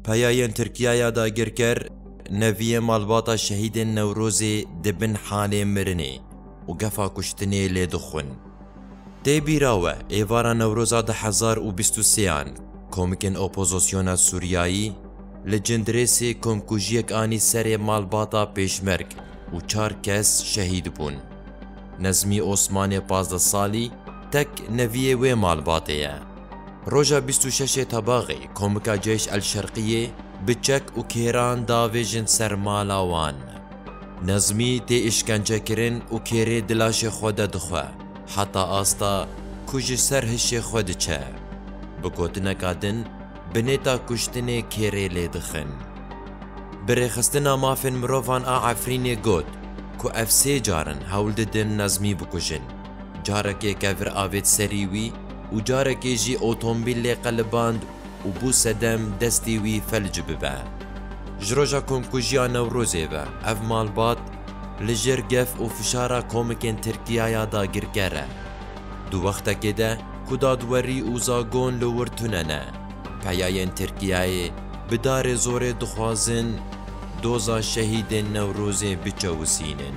Peyayên Tirkiye ya dagirker neviyê malbata şehîdên Newrozê di bin halê mirinê û gefa kuştinê lê dixwin. Tê bîra we êvara Newroza du hezar û bîst û sêan komikên opozosyona Sûriyayî li Cindirêsê komkujiyek anî serê malbata pêşmerg û çar kes şehîd bûn. Nezmî Osmanê pazdeh salî tek neviyê wê malbatê ye. Roja bîst û şeşê Tebaxê komika Ceyş El Şerqiyê bi çek û kêran davêjin ser mala wan. Nezmî tê îşkencekirin û kêrê di laşê xwe de dixwe heta asta ku ji ser hişê xwe diçe. Bi gotineka din bi nêta kuştinê kêrê lê dixin. Bi rêxistina mafên mirovan a Efrînê got ku ev sê car in hewl didin Nezmî bikujin. Carekê kevir avêt serî wî û carekê jî otombîl lê qeliband û bû sedem destê wî felc bibe. Ji roja komkujiya Newrozê ve ev malbat li jêr gef û fişara komikên Tirkiya ya dagirker e. Di wextekê de ku dadwerî û zagon li wir tune ne, peyayên Tirkiyeyê bi darê zorê dixwazin doza şehîdên Newrozê biçewisînin.